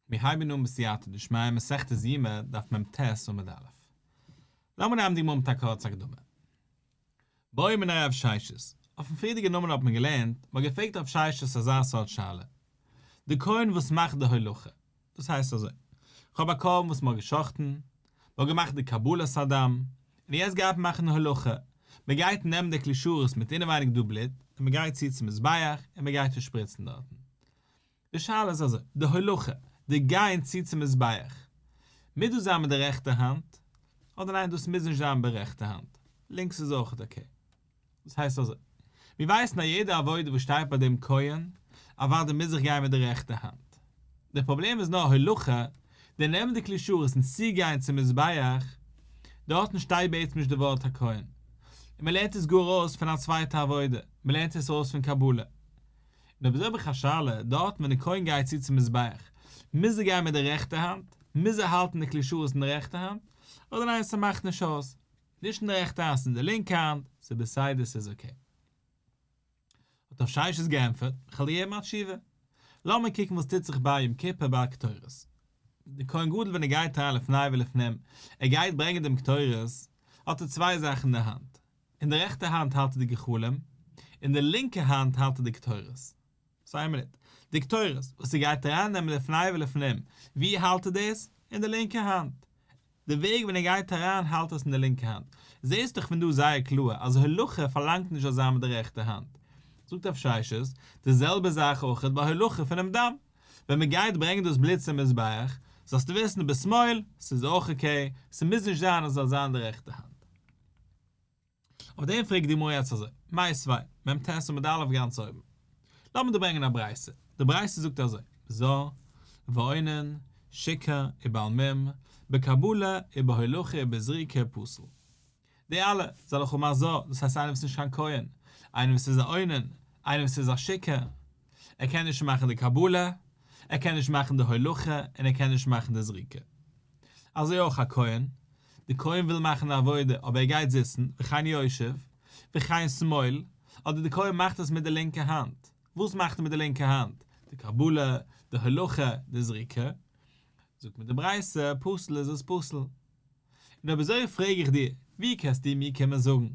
מיר הייבן אן בסייעתא דשמיא מסכת יומא דף מ ט עמוד א'. לאמיר הייבן די מאמר מיט א קורצע הקדמה. בואי מן הרב שיישס, אויפן פריערדיגע נומער האט מען געלערנט, מ'האט געפרעגט הרב שיישס אזא סארט שאלה. די כהן וואס מאכט די הולכה, דאס הייסט אזוי, כ'האב א קרבן וואס מ'האט געשחט'ן, מ'האט געמאכט די קבלת הדם, און יעצט גייט מען מאכן הלכה, מ'גייט נעמען די כלי שרת מיט אינעווייניג דו בלוט, און מ'גייט צו צום מזבח, און מ'גייט צו שפריצן דארטן. די שאלה איז אזוי, די הלכה, די גיין צו צום מזבח, מוז דאס זיין מיט די רעכטע האנט, אדער ניין דאס מוז נישט זיין ברעכטע האנט, לינקס איז אויכעט אקעי. וואס הייסט אזוי? מיר ווייסן אז יעדע עבודה וואס שטייט ביי דעם כהן אוודאי מוז זיך גיין מיט די רעכטע האנט. דער פראבלעם איז נאר הלכה, דער נעמען די כלי שרת און צוגיין צום מזבח, דארטן שטייט בעצם נישט די ווארט הכהן, און מען לערנט עס גאר אויס פון א צווייטע עבודה, מען לערנט עס אויס פון קבלה. און אויב איז אויך א שאלה, דארטן ווען די כהן גייט צו צום מזבח, מוז ער גיין מיט די רעכטע האנט? מוז ער האלטן די כלי שרת אין די רעכטע האנט? אדער ניין ס'מאכט נישט אויס? נישט אין די רעכטע האנט, אין די לינקע האנט, ס'איז בסדר, ס'איז אקעי. האט רב ששת געענטפערט, איך וועל דיר געבן א תשובה. לאמיר קוקן וואס טוט זיך ביי יום כיפור ביי קטורת. דער כהן גדול ווען ער גייט אריין לפני ולפנים, ער גייט ברענגען דעם קטורת, האט ער צוויי זאכן אין די האנט. אין די רעכטע האנט האלט ער די גחלים, אין די לינקע האנט האלט ער די קטורת. סאו איין מינוט. די קטורת וואס איר גייט ארייננעמען לפני ולפנים, ווי האלט איר דאס? אין די לינקע האנט. די וועג ווען איר גייט אריין האלט עס אין די לינקע האנט. זעסט דאך פון דא זייער קלאר אז הלכה פארלאנגט נישט אזא מיט די רעכטע האנט. זאגט א פשעשעס, די זעלבע זאך אויכעט ביי הלכה פונעם דם. ווען מען גייט ברענגען דאס בלוט צום מזבח, זאלסטו וויסן בשמאל, ס'איז אויך אקעי, ס'מוז נישט זיין אז ס'זאל זיין אין די רעכטע האנט. אויף דעם פרעגט די גמרא יעצט אזוי, מאי סבי', מ ט עמוד ד א' גאנץ אויבן. לאמיר דא ברענגען א ברייתא, די ברייתא זאגט אזוי, ז א, ועונן, שיקה, ובעל מום, בקבלה, ובהולכה, ובזריקה, פסול. די אלע, זיי לכו מה ז א, דאס הייסט איינער וואס איז נישט קיין כהן, איינער וואס איז א עונן, איינער וואס איז א שיקה, ער קען נישט מאכן די קבלה, ער קען נישט מאכן די הולכה, און ער קען נישט מאכן די זריקה. אזוי אויך א כהן, די כהן וויל מאכן די עבודה אבער ער גייט זיצן, וכן יושב, וכן שמאל, אדער די כהן מאכט עס מיט די לינקע האנט, וואס מאכט ער מיט די לינקע האנט? די קבלה, די הלכה, די זריקה. זאגט מיר די ברייתא, פסול איז עס פסול. און אויב אזוי פרעג איך דיר, ווי קענסטו מיר קומען זאגן?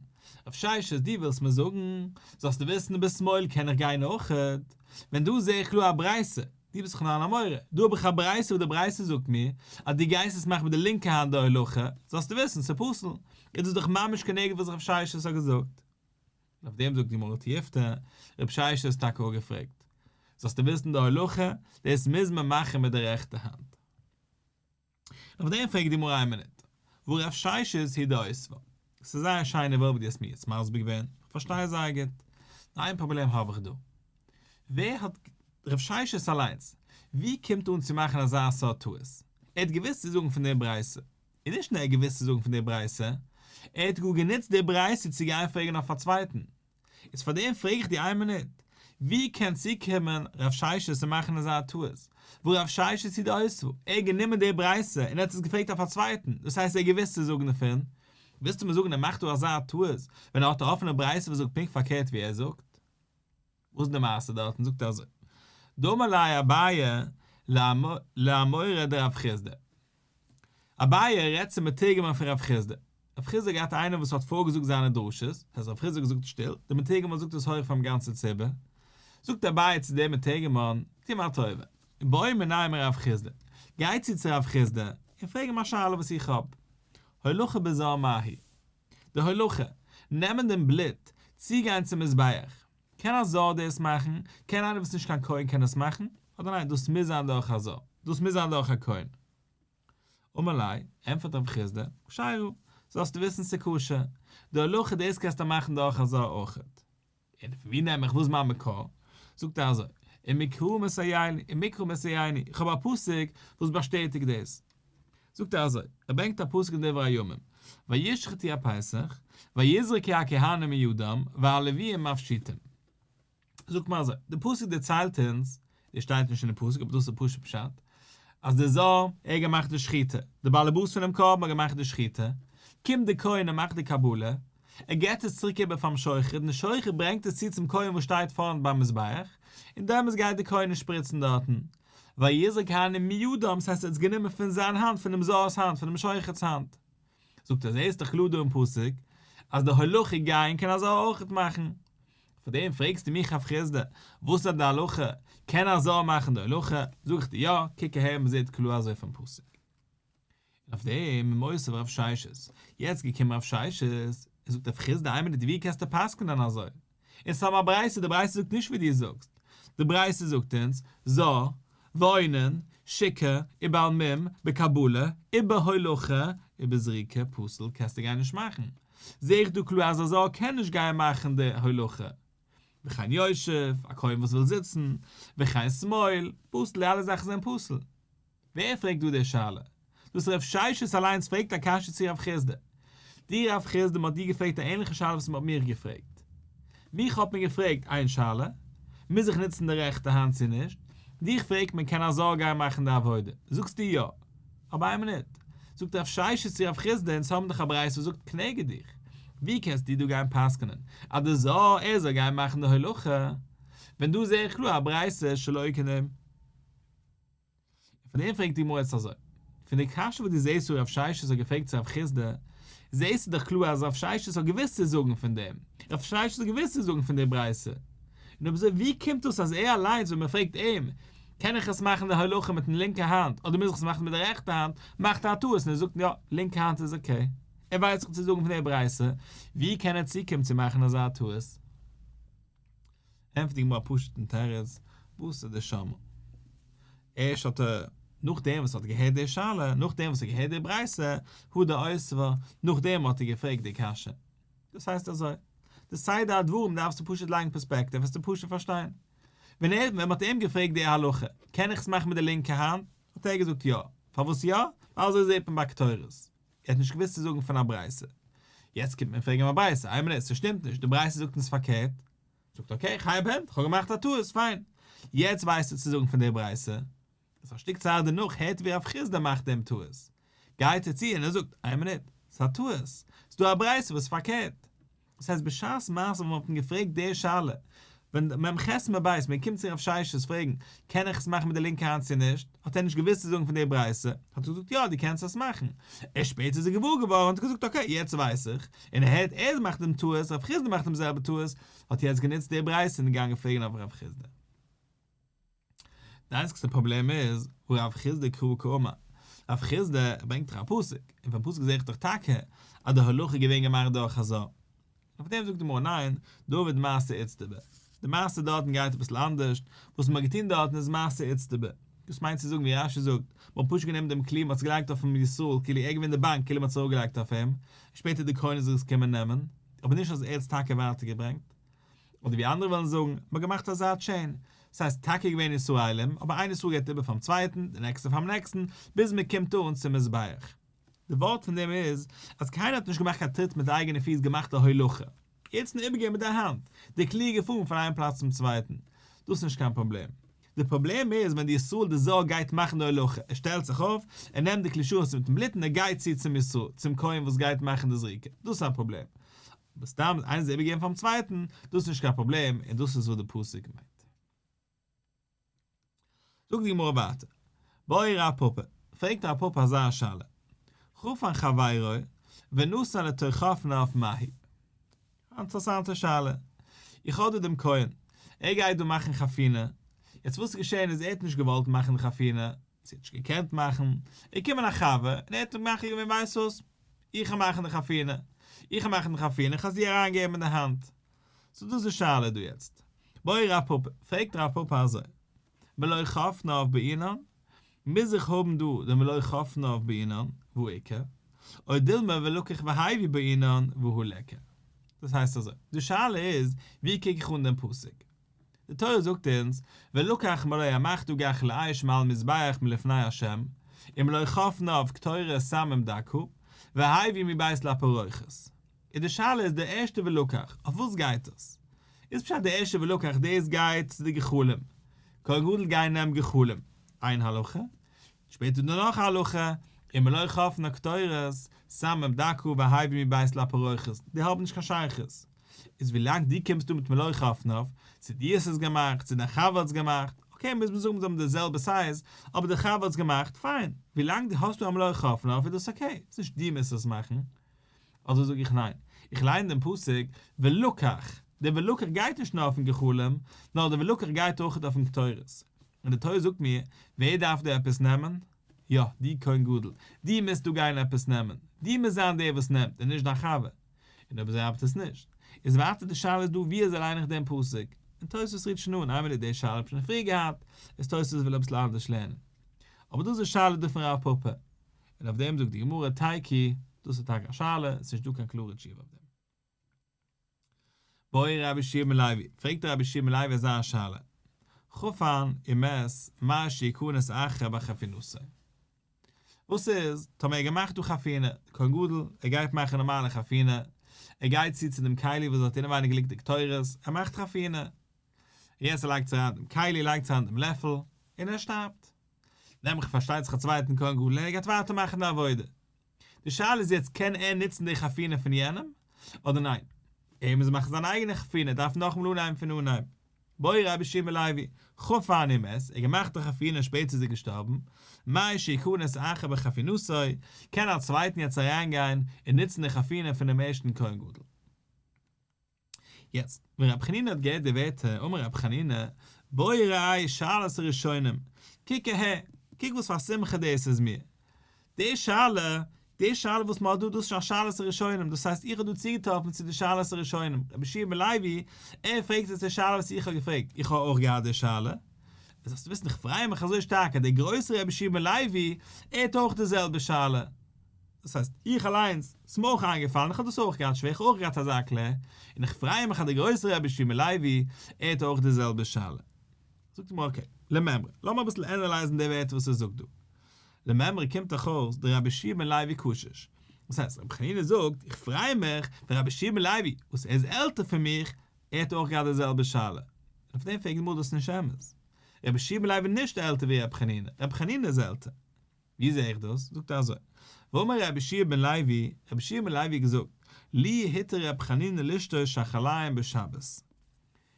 אויף שיישת דו ווילסט מיר זאגן, זאלסטו וויסן ביז שמאל קען איך גיין אויכעט, ווען דא זע איך קלאר א ברייתא, דו ביסט דאך נאר אן אמורא. דא האב איך א ברייתא וואס די ברייתא זאגט מיר אז דו גייסט עס מאכן מיט די לינקע האנט די הלכה, זאלסטו וויסן, ס'איז פסול. איז דאס דאך ממש כנגד וואס רב ששת האט געזאגט. און אויף דעם זאגט די גמרא תי' יפתא, רב ששת האט עס טאקע אפגעפרעגט. זאלסטו וויסן די הלכה, דאס מוז מען מאכן מיט די רעכטע האנט. אויף דעם פרעגט די גמרא איין מינוט, וואו רב ששת היא דאיסווא. ס'איז זייער א שיינע ווארט וואס דו האסט מיר יעצט מסביר געווען, איך פארשטיי עס זייער גוט. נאר איין פראבלעם האב איך דא. ווער האט רב ששת אליינס, וואו קומט אן צו מאכן אזא סארט טעות? ער האט געוואוסט צו זאגן פון דער ברייתא. און נישט נאר ער האט געוואוסט צו זאגן פון דער ברייתא, ער האט גאר גענוצט דער ברייתא צו גיין פרעגן אויף א צווייטן, איז פאר דעם פרעג איך דיר איין מינוט, ווי קען צוקומען ר' ששת און מאכן אזא טעות, וואו ר' ששת צו די אויסוואל, ער האט גענומען די ברייתא און ער האט עס געפרעגט אויף א צווייטן, דאס הייסט ער האט געוואוסט צו זאגן דערפון, ווילסטו מיר זאגן ער מאכט דא אזא טעות ווען ער האט א אפענע ברייתא וואס זאגט פונקט פארקערט ווי ער זאגט? וואס איז די מעשה דארטן? זאגט ער אזוי, דאמר ליה אביי לאמור ר' ר' חיסדא, אביי רעדט צום מתורגמן פון רב חיסדא. רב חיסדא האט געהאט איינער וואס האט פארגעזאגט זיינע דרשות, דאס הייסט רב חיסדא האט געזאגט שטיל, דער מתורגמן זאגט עס הויך פארן גאנצן ציבור. זאגט אביי צו דעם מתורגמן, טו מיר א טובה, און באו מנין רב חיסדא, גיי צו צו רב חיסדא און פרעג אים א שאלה וואס איך האב, הולכה בזרע מהי? די הולכה, נעמען דעם בלוט, צוגיין צום מזבח. קען א זאל דאס מאכן? קען איינער וואס נישט קיין כהן קען דאס מאכן? אדער ניין דאס מוז זיין דורך א זאל? דאס מוז זיין דורך א כהן? אמר לי, ענטפערט רב חיסדא, כשיירו, זאלסטו וויסן ס'איז כשר, די הלכה דאס קענסטו מאכן דורך א זאל אויכעט. און פון ווי נעם איך וואס מיין מקור? זאגט ער אזוי, אין מקרא מסייעני, אין מקרא מסייעני, איך האב א פסוק וואס באשטעטיגט דאס. זאגט ער אזוי, ער ברענגט א פסוק אין דברי הימים, וישחטו הפסח, ויזרקו הכהנים מידם, והלוויים אויף שיטים. זאגט מען אזוי, די פסוק דערציילט אונז, דאס שטייט נישט אין די פסוק אבער דאס איז פשוט פשט, אז די זאל, ער האט געמאכט די שחיטה, די באלעבאס פונעם קרבן האט געמאכט די שחיטה, קומט די כהן ער מאכט די קבלה, ער געבט עס צוריק איבער פארן שוחט און די שוחט ברענגט עס צו צום כהן וואס שטייט פארנט ביים מזבח, און דעמאלטס גייט די כהן און שפריצן דארטן, ויזעק העני מידם, ס'הייסט ער האט עס גענומען פון זיין האנט, פונעם זוהר'ס האנט, פונעם שוחט'ס האנט. זאגט ער, זעהסט דאך קלאר דא אין פסוק, אז די הלכה גייען קען אזא אויכעט מאכן. פאר דעם פרעגסטו מיך אויף חסדא, וואס איז די הלכה, קען אזא מאכן די הלכה? זאג איך דיר, יא, קוק אהער מ'זעהט קלאר אזוי פון פסוק. און אויף דעם איז מוסיף הרב שיישס, יעצט געקומען הרב שיישס און זאגט אויף חז ל איין מינוט ווי קענסטו פסק'נען אזוי? און סתם א ברייתא, די ברייתא זאגט נישט ווי דו זאגסט, די ברייתא זאגט אונז, זא, ועונן, שיקה, ובעל מום, בקבלה, ובהולכה, ובזריקה, פסול, קענסטו גיין נישט מאכן. זע איך דא קלאר אז א זא קען נישט גיין מאכן די הולכה. וכן יושב, א כהן וואס וויל זיצן, וכן סמאיל, פסול, די אלע זאכן זענען פסול. ווער פרעגט דא די שאלה? דאס רב ששת אליינס פרעגט א קשיא צו רב חסדא. דו רב חסדא מ'האט דיר געפרעגט א ענליכע שאלה וואס מ'האט מיך געפרעגט. מיך האט מען געפרעגט איין שאלה, מוז איך נוצן די רעכטע האנט צו נישט? דיך פרעגט מען קען אזאר גיין מאכן די עבודה? זאגסטו יא. אבער איין מינוט. זאגט רב ששת צו רב חסדא אונז האבן דאך א ברייתא וואס זאגט כנגד דיך. ווי קענסטו דא גיין פסק'נען אז דו זאל ער זאל גיין מאכן די הלכה ווען דא זעה איך קלאר א ברייתא שלא כנגד. פון דעם פרעגט די גמרא יעצט אזוי, פון די קשיא וואס דו זעסט וואס רב ששת האט געפרעגט צו רב חיסדא, זעסטו דאך קלאר אז רב ששת האט געוואוסט צו זאגן פון דעם, רב ששת האט געוואוסט צו זאגן פון די ברייתא, און אויב אזוי ווי קומט דאס אז ער אליינס ווען מען פרעגט אים, קען איך עס מאכן די הלכה מיטן לינקע האנט אדער מוז איך עס מאכן מיט די רעכטע האנט, מאכט ער א טעות און ער זאגט יא, לינקע האנט איז אקעי, ער ווייסט דאך צו זאגן פון די ברייתא, ווי קען ער צוקומען צו מאכן אזא טעות? ענטפערט די גמרא א פשוט'ן תירוץ, וואס איז די שמא? ערשט האט ער, נאכדעם וואס ער האט געהערט די שאלה, נאכדעם וואס ער האט געהערט די ברייתא, הוא דעיס ו, נאכדעם האט ער געפרעגט די קשיא. דאס הייסט אזוי, די סדר הדברים דארפסטו פשוט לייגן פערספעקטיוו וועסטו פשוט פארשטיין. ווען ער, ווען מען האט אים געפרעגט די הלכה, קען איך עס מאכן מיט די לינקע האנט? האט ער געזאגט יא. פארוואס יא? ווייל אזוי זעט מען ביי קטורת. ער האט נישט געוואוסט צו זאגן פון א ברייתא. יעצט קומט מען פרעגן אים א ברייתא, איי מינוט, ס'שטימט נישט, די ברייתא זאגט אונז פארקערט. זאגט אקעי חייב הענט כ'האב געמאכט א טעות פיין יעצט ווייסטו צו זאגן פון די ברייסע איז א שטיק צייט דערנאך הערט ווי רב חיסדא מאכט דעם טעות גייט ער צו און ער זאגט איין מינוט ס'איז א טעות ס'דא א ברייסע וואס איז פארקערט דאס הייסט בשעת מעשה ווען מ'האט אים געפרעגט די שאלה ווען מ' חסד מ' בית מ' קומט צו רב ששת פרעגן קען איך עס מאכן מיט די לינקע האנט צו נישט האט ער נישט געוואוסט צו זאגן פון די ברייסע האט ער געזאגט יא די קענסט עס מאכן ערשט שפעטער איז ער געוואר געווארן האט ער געזאגט אקעי יעצט ווייס איך און ער הערט ער מאכט דעם טעות, רב חיסדא מאכט דעם זעלבע טעות, האט יעצט גענוצט די ברייתא און געגאנגען פרעגן אויף רב חיסדא. די איינציגסטע פראבלעם איז, ורב חיסדא קרא קאמא, רב חיסדא ברענגט דאך א פסוק, און פון פסוק זעה איך דאך טאקע אז די הלכה איז געווען געמאכט דורך חזו א, און אויף דעם זאגט די גמרא ניין, דוד מעשה איצטבה. די מעשה דארטן גייט אביסל אנדערשט, וואס מען האט געטון דארטן איז מעשה איצטבא. דאס מיינט צו זאגן ווי רש י זאגט, מען האט פשוט גענומען דעם כלי מען האט עס געלייגט אויפן ישראל כאילו ער געווען די באנק כאילו מען האט עס אראפגעלייגט אויף אים, און שפעטער די כהנים זאל עס קומען נעמען, אבער נישט אז ער האט עס טאקע ווייטער געברענגט. אדער ווי אנדערע וועלן זאגן, מען האט געמאכט אזא טשעין, סאיז טאקע געווען ישראלים, אבער איין ישראל געבט איבער פארן צווייטן, די נעקסטע פארן נעקסטן, ביז מען קומט אן צום מזבח. די ווארט פון דעם איז, אז קיינער האט נישט געמאכט קיין טריט מיט די אייגענע פיס געמאכט א הולכה. יעצט נאר איבערגעבן מיט דיין האנט די קליר געפארן פון איין פלאץ צום צווייטן, דאס איז נישט קיין פראבלעם. די פראבלעם איז ווען די ישראל די זאל גייט מאכן די הולכה, ער שטעלט זיך אויף, ער נעמט די כלי שרץ מיטן בלוט און ער גייט צו צום ישראל, צום כהן וואס גייט מאכן די זריקה, דאס איז א פראבלעם. אבער סתם איינס איבערגעבן פארן צווייטן, דאס איז נישט קיין פראבלעם און דאס איז וואס די פסוק מיינט. זאגט די גמרא ווייטער, באי רב פפא, פרעגט רב פפא אזא שאלה, חפן חברו ונסע לתוכפן אויף מהי? א אינטערעסאנטע שאלה, איך האב דא דעם כהן, ער גייט דא מאכן חתונה, יעצט וואס איז געשען איז ער האט נישט געוואלט מאכן די חתונה, צו ער האט נישט געקענט מאכן, איז געקומען א חבר און ער האט אים מחליט געווען ווייסט וואס, איך וועל מאכן די חתונה, איך וועל מאכן די חתונה, איך וועל עס דיר אריינגעבן אין די האנט, סאו דאס איז די שאלה דא יעצט. בואי רב פפא, פרעגט רב פפא אזוי, מלא חפנא אויף בעינן, מוז איך האבן דא די מלא חפנא אויף בעינן, והוא עיקר, או דילמא ולקח והייבי בעינן והוא לעקר. דאס הייסט אזוי, די שאלה איז, ווי קוק איך אן דעם פסוק? די תורה זאגט אונז, ולקח מלא המח דו גח לאיש מעל מזבח מלפני ה', און מלא כף נאוו קטורת שם עם דקהו, והביא מבית לפרוכת. איז די שאלה איז די ערשטע ולקח, אויף וואס גייט דאס? איז פשט די ערשטע ולקח דאס גייט צו די גחלים, כהן גדול גיי נעם גחלים, איין הלכה, שפעטער דא נאך א הלכה, און מלא כף נאוו קטורת שם עם דקהו והביא מבית לפרוכת, די האבן נישט קיין שייכות. איז ווילאנג דו קומסט דא מיט מלוא חפניו, צו דו האסט עס געמאכט, צו דיין חבר האט עס געמאכט, אקעי מוז מען זאגן זיי האבן די זעלבע סייז, אבער די חבר האט עס געמאכט, פיין, ווילאנג דו האסט דא א מלוא חפניו איז דאס אקעי, איז נישט דו מוזט עס מאכן. אדער זאג איך ניין, איך ליין דעם פסוק ולקח, דער ולקח גייט נישט נאר אויפן גחלים, נאר דער ולקח גייט אויך אויפן קטורת, און די תורה זאגט מיר, ווער דארף דא עפעס נעמען? יא, דו כהן גדול, דו מוזט דא גיין עפעס נעמען, דו מוזט זיין דער וואס נעמט, און נישט דיין חבר. און אויב אזוי ארבעט עס נישט. איז ווייטער די שאלה איז דא ווי אזוי ליין איך דעם פסוק, און תוספות רירט שוין אן, איין מינוט די שאלה האב איך שוין פריער געהאט, איז תוספות וויל אביסל אנדערש לערנען. אבער דאס איז שאלה דא פון רב פפא, און אויף דעם זאגט די גמרא תייקי, דאס איז טאקע א שאלה, עס איז נישט דא קיין קלארע תשובה אויף דעם. בואי רבי שמעון לוי, פרעגט רבי שמעון לוי אזא שאלה, כ'רוף אן עם עס מאי שי' כונת אחר ביי חפינותיי. וואס איז טאמער ער געמאכט דא חפינה, כהן גדול, ער גייט מאכן נארמאלע חפינה, ער גייט צו צו דעם כלי וואס האט אינעווייניג ליגט די קטורת, ער מאכט חפינה, יעצט ער לייגט צו אריין דעם כלי, לייגט צו אריין דעם לעפל, און ער שטארבט. נעם איך פארשטייט זיך א צווייטן כהן גדול און ער גייט ווייטער מאכן די עבודה. די שאלה איז יעצט קען ער נוצן די חתונה פון יענעם אדער ניין? ער מוז מאכן זיין אייגענע חתונה ער דארף נאכאמאל אנהייבן פון אנהייב. בואי רבי שמעון לעווי, ח ו אני מת, ער האט געמאכט די חתונה און שפעטער איז ער געשטארבן, מאי שיכנס אחר בחתונתו, קען א צווייטן יעצט אריינגיין און נוצן די חתונה פונעם ערשטן כהן גדול? יעצט, ווען רבי חנינא האט געהערט די ווערטער, אמר רבי חנינא, בואי ראי' שאלת הראשונים, קוק אהער, קוק וואס פאר א שמחה דאס איז מיר, די שאלה, די שאלה וואס מען האט דא, דאס איז שוין א שאלת הראשונים, דאס הייסט איך האב דא צוגעטראפן צו די שאלת הראשונים, רבי שמעון בן לוי, ער פרעגט יעצט די שאלה וואס איך האב געפרעגט, איך האב אויך געהאט די שאלה, און זאלסטו וויסן איך פריי מיך אזוי שטארק אז דער גרויסער רבי שמעון בן לוי, ער האט אויך די זעלבע שאלה. דאס הייסט, איך אליינס, ס'איז מיר אויך איינגעפאלן, איך האב דאס אויך געהאט שווער, איך האב אויך געהאט אזא קלע, און איך פריי מיך אז דער גרויסער רבי שמעון לעווי, ער האט אויך די זעלבע שאלה. זאגט מיר אקעי, למימרא, לאמיר אביסל ענעלייזן די ווערטער וואס ער זאגט דא. למימרא קומט דאך אויס דער רבי שמעון לעווי קושש. דאס הייסט, רבי חנינא זאגט, איך פריי מיך, ווען רבי שמעון לעווי, וואס ער איז עלטער פון מיך, ער האט אויך געהאט די זעלבע שאלה. און אויף דעם פרעגן מיר דאס נישט אמת. רבי שמעון לעווי איז נישט עלטער ווי רבי חנינא, רבי חנינא איז עלטער. ווי זעה איך דאס? זאגט ער אזוי, ואמר רבי שיע בן לוי, רבי שיע בן לוי האט געזאגט, לי היתר רבי חנינא לשתות שחליים בשבת.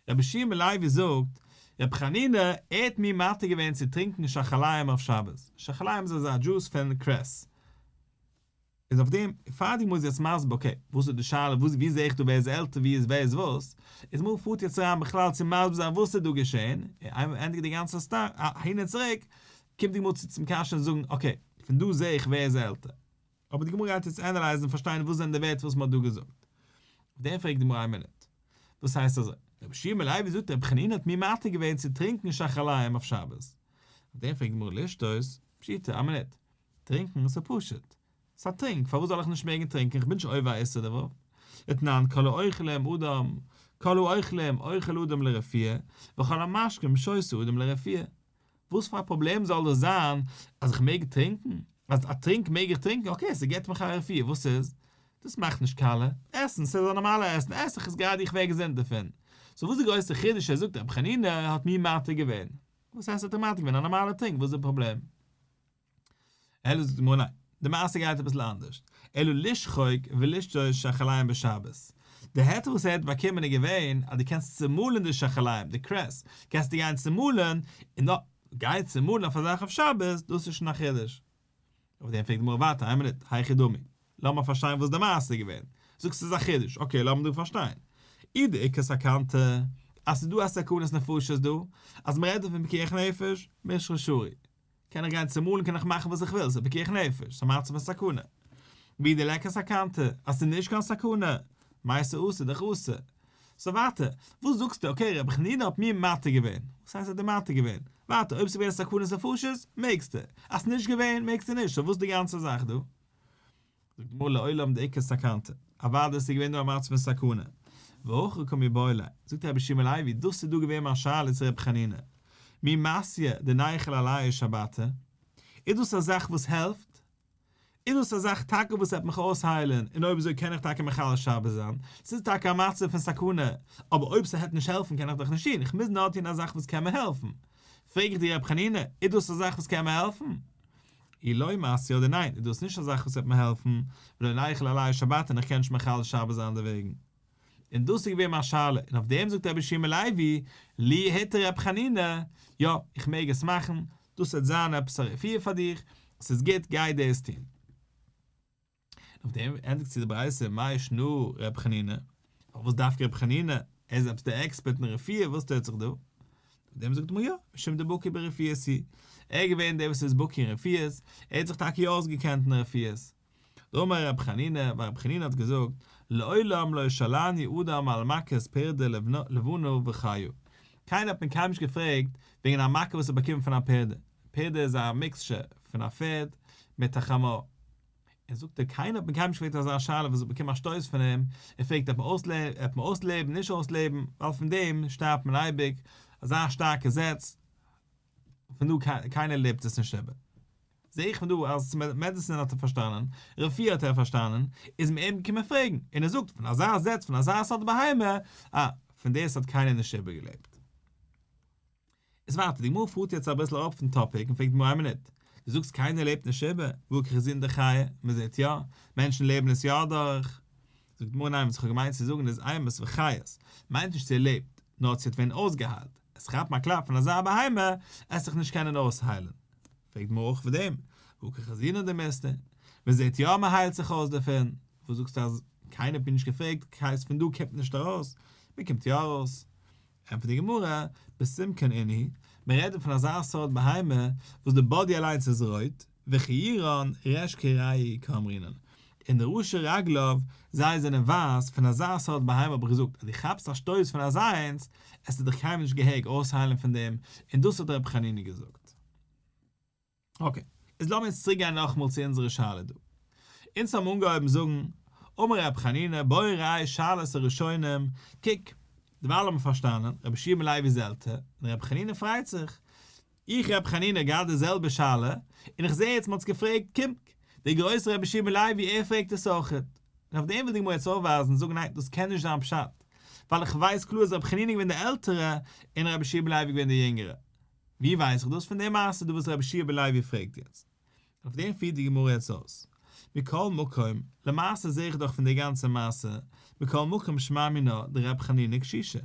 רבי שיע בן לוי זאגט, רבי חנינא, ער האט מיר מתיר געווען צו טרינקען שחליים אויף שבת. שחליים איז אזא דזשוס פון קרעס. איז אויף דעם, פאר די גמרא איז יעצט מסביר אקעי, וואס איז די שאלה, וואס ווי זעה איך דא ווער איז עלטער ווי איז ווער איז וואס, איז מיר פארט יעצט אריין בכלל צו מסביר זיין וואס איז דא געשעהן, און איין ענדיגט די גאנצע אהין און צוריק, קומט די גמרא צו צום קשיא און זאגן אקעי, פון דא זעה איך ווער איז עלטער. אבער די גמרא גייט יעצט ענעלייזן און פארשטיין וואס זענען די ווערטער וואס מען האט דא געזאגט. אויף דעם פרעגט די גמרא איין מינוט, דאס הייסט אזוי, רבי שמעון בן לוי זאגט רבי חנינא האט מיר מתיר געווען צו טרינקען שחליים אויף שבת. אויף דעם פרעגט די גמרא לשטות, פשיטא, איין מינוט, טרינקן איז פשוט. ס'איז א טרינק, פארוואס זאל איך נישט מעגן טרינקן, כ'בין נישט עובר א איסור דערויף. אתנן, כל האוכלים אדם, כל האוכלים אוכל אדם לרפיה, וכל המשקים שותה אדם לרפיה. וואס פאר א פראבלעם זאל דאס זיין אז איך מעג טרינקן? אז א טרינק מעג איך טרינקן, אקעי, ס'געבט מיך א רפיה, וואס איז? דאס מאכט נישט קאלע. עסן, ס'איז א נארמאלע עסן, עס איך עס גראדע איך ווער געזונט דערפון. סאו וואס די גרויסע חידוש אז ער זאגט רבי חנינא האט מיר מתיר געווען? וואס הייסט האט ער מתיר געווען? א נארמאלע טרינק, וואס איז די פראבלעם? אלא זאגט די גמרא ניין, די מעשה גייט אביסל אנדערשט, אלא לשחוק ולשטויס שחליים בשבת, די היתר וואס ער האט באקומען איז געווען אז דו קענסט צומאלן די שחליים, די קרעסט, קענסטו גיין צומאלן, און נאר גיין צומאלן אויף אזאך אויף שבת, דאס איז שוין א חידוש. אויף דעם פרעגט די גמרא ווייטער, איין מינוט, היכי דמי, לאמיר פארשטיין וואס די מעשה איז געווען, זאגסט ס'איז א חידוש, אקעי לאמיר דא פארשטיין, אי דעיקא סכנתא, אז ס'איז דא א סכנת נפשות דא, אז מ'רעדט דא פון פיקוח נפש, משכ'ל שרי, קען איך גיין צומאלן קען איך מאכן וואס איך וויל ס'איז פיקוח נפש ס'איז מצב הסכנה ווי די לעקער סכנתא אז ס'איז נישט קיין סכנה מאי ס'אסור דאך אסור סאו ווייטער וואס זאגסטו אקעי רבי חנינא האט מיר מתיר געווען וואס הייסט ער האט דיר מתיר געווען ווייטער אויב ס'איז געווען סכנת נפשות מעגסטו אז ס'איז נישט געווען מעגסטו נישט סאו וואס די גאנצע זאך דא. זאגט די גמרא לעולם דעיקא סכנתא, אוודאי ס'איז געווען דא א מצב פון סכנה. והכא קמיה באילה, זאגט רבי שמעון הלוי, דאס איז דא געווען מיין שאלה צו רבי חנינא, מי מעשיה דניחל עליה שבתא? איז דאס א זאך וואס העלפט? איז דאס א זאך טאקע וואס וועט מיך אויסהיילען און אויב אזוי קען איך טאקע מחלל שבת זיין? ס'איז טאקע א מצב פון סכנה, אבער אויב ס'העט נישט העלפן קען איך דאך נישט טון, כ'מוז נאר טון א זאך וואס קען מיר העלפן. פרעג איך דיר רבי חנינא, איז דאס א זאך וואס קען מיר העלפן? אי לוי מאס יא אדער ניין? איז דאס נישט א זאך וואס וועט מיר העלפן ולא נאריך אלא עליי שבת און איך קען נישט מחלל שבת זיין דערוועגן? און דאס איז געווען מיין שאלה און אויף דעם זאגט רבי שמעון לייבי לי היתר רב חנינא יא איך מעג עס מאכן דאס וועט זיין עפעס א רפואה פאר דיך עס איז גוט גיי דאס טון. אויף דעם ענדיגט זיך די ברייתא מאי ישנא רבי חנינא, פארוואס דווקא רבי חנינא, ער איז עפעס דער עקספערט אין רפואה, וואס טוט זיך דא? אויף דעם זאגט מען יא, משום דער בקי ברפואה הי', ער איז געווען דער וואס איז בקי אין רפואות, ער האט זיך טאקע יא אויסגעקענט אין רפואות. דאמר רבי חנינא, ווייל רבי חנינא האט געזאגט, לעולם לא ישאלני אדם על מכת פרדה לבנו וחיו, קיינער האט מען קיינמאל נישט געפרעגט וועגן א מכה וואס ער האט באקומען פון א פרדה, פרדה איז א מיקסטשער פון א פערד מיט א חמור, און זאגט ער קיינער האט מיר קיינמאל נישט געפרעגט אזא שאלה וואס איך באקום א שטויס פון אים, ער פרעגט עפ מען אויסלעבן נישט אויסלעבן, ווייל פון דעם שטארבט מען אייביג, אזא שטארקע זעץ, פון דא קיינער לעבט עס נישט איבער. זע איך פון דא אז צו מעדעסין האט ער פארשטאנען, רפואה האט ער פארשטאנען, איז מען אים געקומען פרעגן, און ער זאגט פון אזא זעץ פון אזא סארט בהמה, אה, פון דאס האט קיינער נישט איבערגעלעבט. איז ווייטער, די גמרא פארט יעצט אביסל אראפ פון טאפיק און פרעגט די גמרא איין מינוט, דו זאגסט קיינער לעבט נישט איבער, וואו קריך איך זעהן די חי', מען זעהט יא, מענטשן לעבן עס יא אדורך, זאגט די גמרא ניין וואס איך האב געמיינט צו זאגן איז איימעס וחיות, מיינט נישט צו ער לעבט, נאר צו ער האט ווען אויסגעהיילט, עס כאפן א קלאפ פון אזא בהמה, עס זיך נישט קענען אויסהיילן, פרעגט די גמרא אויך אויף דעם, וואו קריך איך זעהן אט די מיסטער, מען זעהט יא מען היילט זיך אויס דערפון, וואס זאגסטו אז קיינער האט מיר נישט געפרעגט, קיינס פון דא קומט נישט ארויס, מען קומט יא ארויס, ענטפערט די גמרא, בשום כן איני, מען רעדט דא פון אזא סארט בהמה וואס די באדי אליינס איז רויט, וכירון רש כ ראי' כאמרינן, און די ראשי רגליו זיי זענען ווייס, פון אזא סארט בהמה האב איך געזאגט אז דו כאפסט א שטויס פון אזא איינס, עס איז דיך קיינמאל נישט געהעג אויסהיילן פון דעם, און דאס האט רבי חנינא געזאגט. אקעי. איז לאמיר אונז צוריקגיין נאכאמאל צו אונזערע שאלה דא. אונז האבן אנגעהויבן זאגן, אמר ר' חנינא, בואו ראי' שאלת הראשונים, קוק, דערווייל האט מען פארשטאנען, רבי שמעון לייבי זל ת, און רבי חנינא פרייט זיך, איך רבי חנינא געהאט די זעלבע שאלה, און איך זע יעצט מ'האט עס געפרעגט, קומט, דער גרויסער רבי שמעון לייבי ער פרעגט עס אויך. און אויף דעם וויל די גמרא יעצט אויפווייזן און זאגן ניין דאס קען נישט זיין פשט, ווייל איך ווייס קלאר אז רבי חנינא איז געווען דער עלטערער און רבי שמעון לייבי איז געווען דער יונגערער. ווי ווייס איך דאס? פון די מעשה דא וואס רבי שיעבע לייבי פרעגט יעצט. אויף דעם פירט די גמרא יעצט אויס. מכל מקום, למעשה זעה איך דאך פון די גאנצע מעשה, מכל מקום שמע מינה דרבי חנינא קשישא.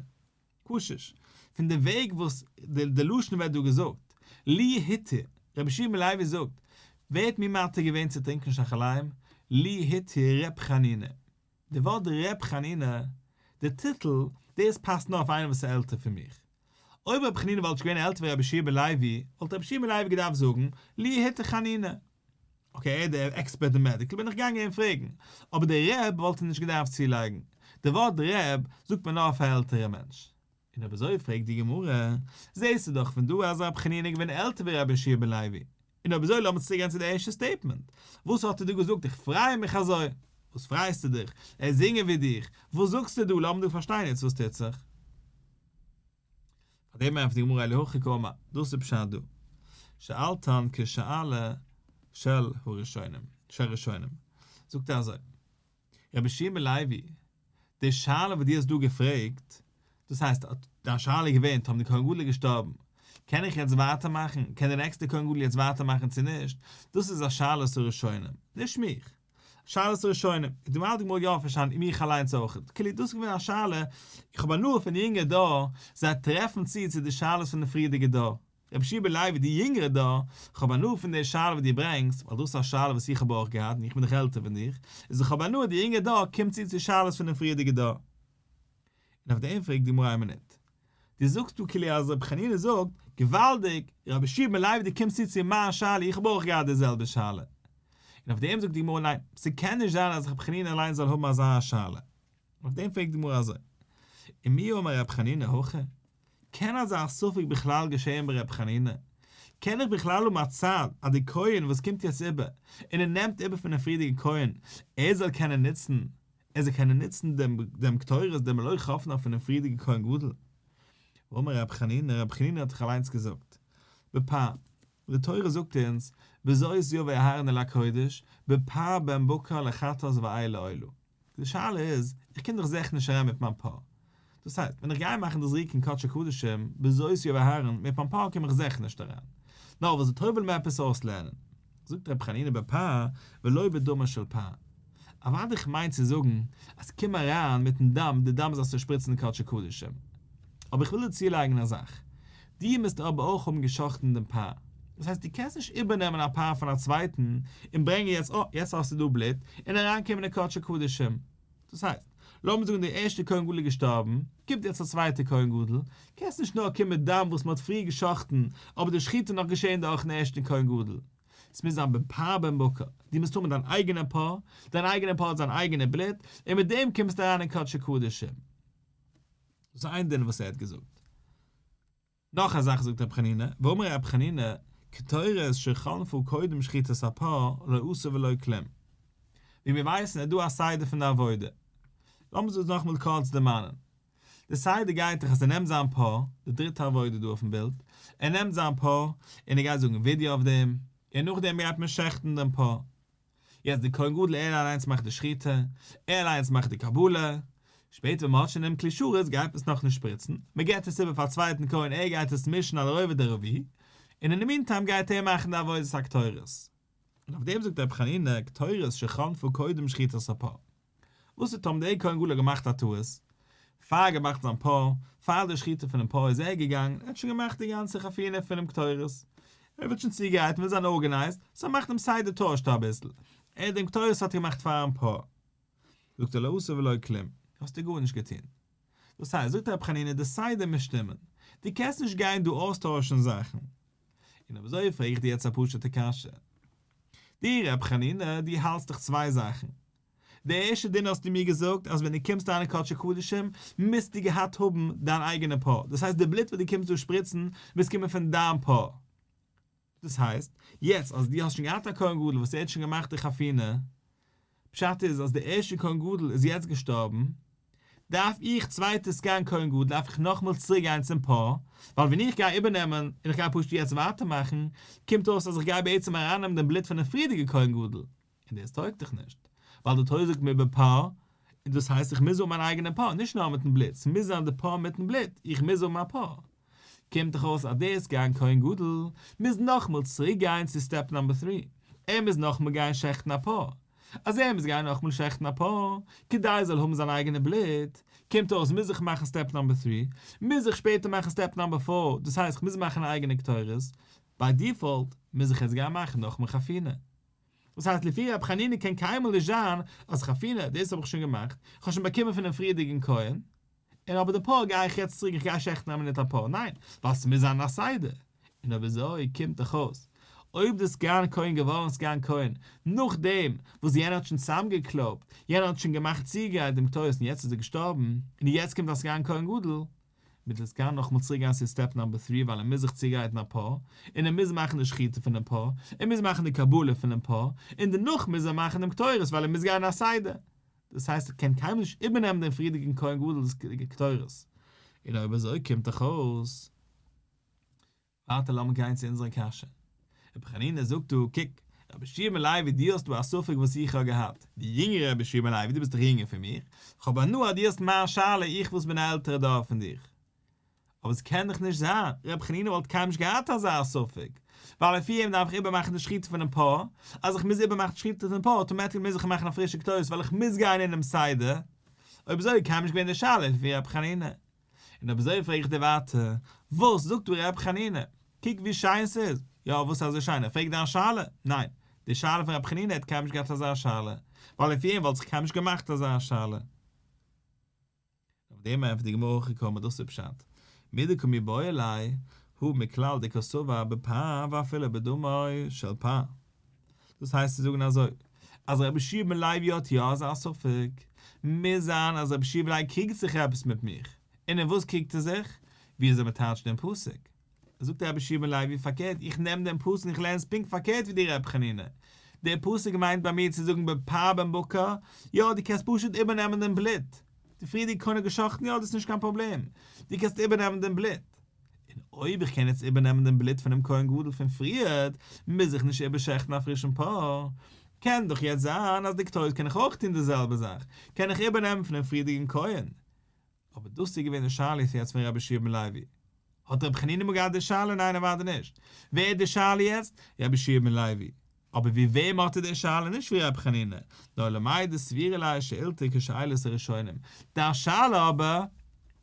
קשיש. פון די וועג וואס די לשון ווערט דא געזאגט. לי היתר, רבי שיעבע לייבי זאגט, ווער האט מיר מתיר געווען צו טרינקען שחליים? לי היתר ר' חנינא. די ווארט רב חנינא, די טיטל, דאס פאסט נאר אויף איינער וואס איז עלטער פון מיך. אויב רב חנינא וואלט נישט געווען עלטער פון רבי שמעי' בן לוי, וואלט רבי שמעי' בן לוי געדארפט זאגן, לי היתה חנינא. אקעי, ער איז דער עקספערט אין מעדיקל, בין איך געגאנגען אים פרעגן. אבער דער רב וואלט ער נישט געדארפט צולייגן. די ווארט רב, זאגט מען נאר אויף א עלטערע מענטש. און אויב אזוי פרעגט די גמרא, זעהסטו דאך פון דא אז רבי חנינא איז געווען עלטער ווי רבי ישעי' בן לוי, און אויב אזוי לאמיר צוריק גיין צו די ערשטע סטעיטמענט, וואס האט ער דא געזאגט איך פריי מיך אזוי, וואס פרייסטו דיך, ער זינגען ווי דיך, וואס זאגסטו דא, לאמיר דא פארשטיין יעצט וואס טוט זיך. פאר דעם ענטפערט די גמרא אלי הכי קאמא, דאס איז פשט דא, שאלתן כשאלה של הראשונים, של ראשונים, זאגט ער אזוי. רבי שמעון לעווי, די שאלה וואס דו האסט דא געפרעגט, דאס הייסט, אט דיין שאלה איז געווען, טאמער די כהן גדול איז געשטארבן, קען איך יעצט ווייטער מאכן, קען די נעקסטע כהן גדול יעצט ווייטער מאכן צו נישט, דאס איז א שאלת הראשונים, נישט מיך. שאלת הראשונים, און דערווייל האט די גמרא יא פארשטאנען און מיך אליינס אויך, כאילו דאס איז געווען א שאלה, איך האב הנאה פון די יונגע דור, זיי טרעפן צו צו די שאלות פון די פריערדיגע דור. רבי שיבער לייבי די יונגערע דא, כ'האב הנאה פון די שאלה וואס דו ברענגסט, ווייל דאס איז א שאלה וואס איך האב אויך געהאט און איך בין דאך עלטער פון דיך, איז איך האב הנאה אז די יונגערע דור קומט צו צו שאלות פון די פריערדיגע דור. און אויף דעם פרעגט די גמרא א מינוט. דו זאגסט דא כאילו אז רבי חנינא זאגט, געוואלדיג, רבי שיבער לייבי דו קומסט צו צו מיין שאלה איך האב אויך געהאט די זעלבע שאלה. און אויף דעם זאגט די גמרא ניין, ס'קען נישט זיין אז רבי חנינא אליין זאל האבן אזא שאלה. און אויף דעם פרעגט די גמרא אזוי. ומי אמר רבי חנינא הכא? קען אזא ספק בכלל געשען ביי ר' חנינא? קען איך בכלל האבן א צד אז די כהן וואס קומט יעצט איבער און ער נעמט איבער פונעם פריערדיגע כהן ער זאל קענען נוצן ער זאל קענען נוצן דעם דעם קטורת דעם לוי חפנה פונעם פריערדיגע כהן גדול? ואמר ר' חנינא ר' חנינא האט דאך אליינס געזאגט בעפאר די תורה זאגט אונז וזאת יבא אהרן אל הקודש בעפאר בן בקר לחתות ואיל לאלו די שאלה איז, איך קום דאך זעך נישט אריין מיט מיין פא. דאס הייסט, ווען איך גיי מאכן דאס ריקן קדשי קדשים, בזיעות יובל אהרן, מיט מיין פא קום איך זעך נישט אריין. נאר וואס די תורה וויל מיר עפעס אויסלערנען. זאגט רבי חנינא בפה ולא בדמו של פה. אוואדי איך מיין צו זאגן, אז קום אריין מיטן דם, די דם זאלסטו שפריצן אין קדשי קדשים. אבער איך וויל דיר צולייגן א זאך. דו מוזט אבער אויך האבן גע'שחט'ן דעם פר. דאס הייסט דו קענסט נישט איבערנעמען א פר פון א צווייטן און ברענגען יעצט אה יעצט האסטו דא בלוט און אריינקומען אין קדשי קדשים. דאס הייסט, לאמיר זאגן דער ערשטער כהן גדול איז געשטארבן, קומט יעצט א צווייטער כהן גדול, קענסט נישט נאר קומען מיט דם וואס מען האט פריער גע'שחט'ן אבער די שחיטה איז נאך געשען דורכן ערשטן כהן גדול. עס מוז זיין בן פר בן בקר. דו מוזט האבן דיין אייגענע פר, דיין אייגענע פר האט זיין אייגענע בלוט, און מיט דעם קומסטו אריין אין קדשי קדשים. דאס איז איין דין וואס ער האט געזאגט. נאך א זאך זאגט רבי חנינא, ואמר רבי חנינא, קטורת שחלפו קודם שחיטת הפר לא אסור ולא כלום. ווי מיר ווייסן איז דא א סדר פון די עבודה. לאמיר דאס נאכמאל קורץ דערמאנען. די סדר גייט דאך אז ער נעמט זיין פר, די דריטע עבודה דא אויפן בילד, ער נעמט זיין פר און ער גייט זאגן ווידוי אויף דעם, און נאכדעם גייט מען שעכטן דעם פר. יעצט די כהן גדול ער אליינס מאכט די שחיטה, ער אליינס מאכט די קבלה, שפעטער ווען מען האט שוין דעם כלי שרת גייט מען עס נאכנישט שפריצן, מען געבט עס איבער פאר א צווייטן כהן ער גייט עס מישן על הראובד הרביעי, און אין די מינטיים גייט ער מאכן די עבודת הקטורת. און אויף דעם זאגט רבי חנינא קטורת שחנפו קודם שחיטת הפר. וואס האט האבן די עיקר און גאלא געמאכט א טעות? פאר ער געמאכט זיין פאה, פאר די שחיטה פונעם פאה איז ער געגאנגען, ער האט שוין געמאכט די גאנצע חפינה פונעם קטורת, ער וויל שוין צוגרייטן, וויל זיין ארגענייזט, סאו ער מאכט דעם סדר טוישט אביסל, ער דעם קטורת האט ער געמאכט פארן פאה. זאגט ער לא עשה ולא כלום, האסטו גארנישט געטון. דאס הייסט, זאגט רבי חנינא, די סדר מוז שטימען, דו קענסט נישט גיין דא אויסטוישן זאכן. און אויב אזוי פרעג איך דיר יעצט א פשוט'ע קשיא. דו רבי חנינא, דו האלטסט דאך צוויי זאכן, די ערשטע דינער האסטו מיר געזאגט אז ווען דו קומסט אריין אין קדשי קדשים מוזטו געהאט האבן דיין אייגענע פאה, דאס הייסט די בלוט וואס דו קומסט דא שפריצן מוז קומען פון דיין פאה, דאס הייסט, יעצט אז דו האסט שוין געהאט א כהן גדול וואס ער האט שוין געמאכט די חפינה, פשט איז אז די ערשטע כהן גדול איז יעצט געשטארבן, דארף איך צווייטע סגן כהן גדול דארף איך נאכמאל צוריק גיין צום פאה, ווייל ווען איך גיי איבערנעמען און איך גיי פשוט יעצט ווייטער מאכן, קומט אויס אז איך גיי בעצם ארייננעמען דעם בלוט פונעם פריערדיגע כהן גדול, און דאס טויג דאך נישט, ווייל די תורה זאגט מיר ב פ, און דאס הייסט איך מוז האבן מיין אייגענע פ, נישט נאר מיטן בלוט, ס'מוז זיין די פ מיטן בלוט, איך מוז האבן א פ. קומט דאך אויס אז דאס גיין כהן גדול מוז נאכמאל צוריק גיין צו סטעפ נאמבער טרי, ער מוז נאכמאל גיין שעכטן א פ, אז ער מוז גיין נאכמאל שעכטן א פ כדי ער זאל האבן זיין אייגענע בלוט, קומט אויס מוז איך מאכן סטעפ נאמבער טרי, מוז איך שפעטער מאכן סטעפ נאמבער פאר, דאס הייסט איך מוז מאכן א אייגענע קטורת, ביי דיפאלט מוז איך עס גיין מאכן נאכמאל חפינה. דאס הייסט לפי רבי חנינא קען קיינמאל נישט זיין אז חפינה דאס האב איך שוין געמאכט, איך האב שוין באקומען פונעם פריערדיגן כהן, און אבער דערפאר גיי איך יעצט צוריק איך גיי שעכטן א מינוט אפאר, ניין, ווייל ס'מוז זיין א סדר, און אויב אזוי קומט דאך אויס אויב די סגן כהן געווארן סגן כהן נאכדעם וואס יענער האט שוין צוזאמגעקלויבט, יענער האט שוין געמאכט צוגרייט דעם קטורת און יעצט איז ער געשטארבן, און יעצט קומט א סגן כהן גדול, מען דארף גאר נאכמאל צוריק גיין צו סטעפ נאמבער טרי ווייל ער מוז זיך צוגרייטן א פאה, און ער מוז מאכן די שחיטה פונעם פאה, ער מוז מאכן די קבלה פונעם פאה, און דערנאך מוז ער מאכן דעם קטורת ווייל ער מוז גיין א סדר, דאס הייסט ער קען קיינמאל נישט איבערנעמען דעם פריערדיגן כהן גדול די קטורת, און אויב אזוי קומט דאך אויס ווייטער לאמיר גיין צו אונזערע קשיא. רבי חנינא זאגט דא, קוק, רבי שמעון לעווי דו האסט דא א ספק וואס איך האב געהאט, דו יונגערע רבי שמעון לעווי דו ביסט דאך יונגער פון מיך, כ'האב הנאה אז דו האסט מיין שאלה איך וואס בין א עלטערע דור פון דיך. אבער ס'קען דאך נישט זיין, רבי חנינא וואלט קיינמאל נישט געהאט אזא ספק, ווייל לפי אים דארף איך איבערמאכן די שחיטה פונעם פאה, אז איך מוז איבערמאכן די שחיטה פונעם פאה אוטומעטיקלי מוז איך מאכן א פרישע כתובות ווייל איך מוז גיין אינעם סדר, אויב אזוי איז קיינמאל נישט געווען די שאלה לפי רבי חנינא. און אויב אזוי פרעג איך דיר ווייטער, וואס זאגט דא ר' חנינא? קוק ווי שיין ס'איז! יא, וואס איז אזוי שיין? ער פרעגט דיין שאלה? ניין. די שאלה פון ר' חנינא העט קיינמאל נישט געהאט אזא שאלה, ווייל אויף איהם וואלט זיך קיינמאל נישט געמאכט אזא שאלה. אויף דעם ענטפערט די גמרא אחרי כל מדות ופשט, מי דקא מי באי אלי, הוא מכלל דקא סבר בפה ואפילו בדמו של פה. דאס הייסט צו זאגן אזוי, אז רבי שמעון בן לוי האט יא אזא ספק, מוז זיין אז רבי שמעון בן לוי קריגט זיך עפעס מיט מיך, און אין וואס קריגט ער זיך? ווי אזוי מען טייטשט דעם פסוק. זאגט רבי שמעון בן לוי, פארקערט, איך נעם דעם פסוק און איך לערן עס פונקט פארקערט ווי דיר רבי חנינא, דער פסוק מיינט ביי מיר צו זאגן בפר בן בקר, יא דו קענסט פשוט איבערנעמען דעם בלוט, די פריערדיגע קאן ער געשאכטן יא דאס איז נישט קיין פראבלעם, דו קענסט איבערנעמען דעם בלוט. און אויב איך קען יעצט איבערנעמען דעם בלוט פונעם כהן גדול פון פריערט, מוז איך נישט איבערשעכטן א פרישן פאר. קען דאך יעצט זיין אז די כתובות קען איך אויך טון די זעלבע זאך, קען איך איבערנעמען פונעם פריערדיגן כהן. אבער דאס איז געווען די שאלה איז יעצט פון רבי שמעון לעווי. האט רבי חנינא אמאל געהאט די שאלה? ניין אוודאי נישט. ווער איז די שאלה יעצט? רבי שמעון לעווי. אבער ווי וועם האט ער די שאלה נישט ווי רבי חנינא, נאר למאי דסבירא ליה שאילתא כשאלת הראשונים, דיין שאלה אבער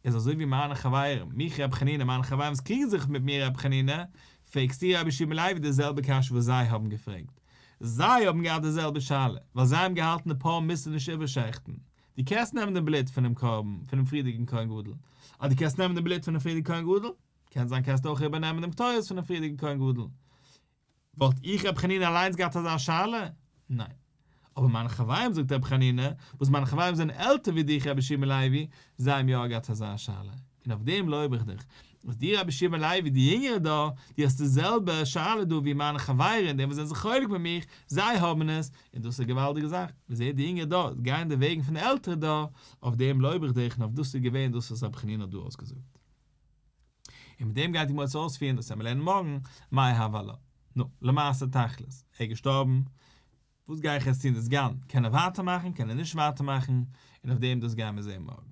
איז אזוי ווי מיינע חברים, מיך רבי חנינא, מיינע חברים וואס קריגן זיך מיט מיר רבי חנינא, פרעגסטו רבי שמעון לעווי די זעלבע קשיא וואס זיי האבן געפרעגט, זיי האבן געהאט די זעלבע שאלה, ווייל זיי האבן געהאלטן די פאה מוז מען נישט איבערשעכטן, דו קענסט נעמען דעם בלוט פונעם קרבן פונעם פריערדיגן כהן גדול, אז דו קענסט נעמען דעם בלוט פונעם פריערדיגן כהן גדול, קען זיין קענסטו אויך איבערנעמען דעם קטורת פונעם פריערדיגן כהן גדול, וואלט איך רבי חנינא אליינס געהאט אזא שאלה? ניין. אבער מיינע חברים זאגט רבי חנינא, וואס מיינע חברים זענען עלטער ווי דיך רבי שמעון לעווי, זיי האבן יא געהאט אזא שאלה. און אויף דעם לויב איך דיך. אז דו רבי שמעון לעווי די יונגערע דא, דו האסט די זעלבע שאלה דא ווי מיינע חברים די וואס זענען זיך חולק מיט מיך, זיי האבן עס, און דאס איז א געוואלדיגע זאך. ווי אזוי די יונגערע דא גייען די וועגן פון די עלטערע דא, אויף דעם לויב איך דיך און אויף דאס איז געווען דאס וואס רבי חנינא האט דא אויסגעזאגט. און מיט דעם גייט די מועצת אויספירן דאס וועמען לערנען מארגן, מאי הוה לה. נו, למעשה תכלית, ער איז געשטארבן, וואס גיי איך יעצט טון דאס גן, קען ער ווייטער מאכן, קען ער נישט ווייטער מאכן, און אויף דעם דאס גייען מיר זעהן מארגן.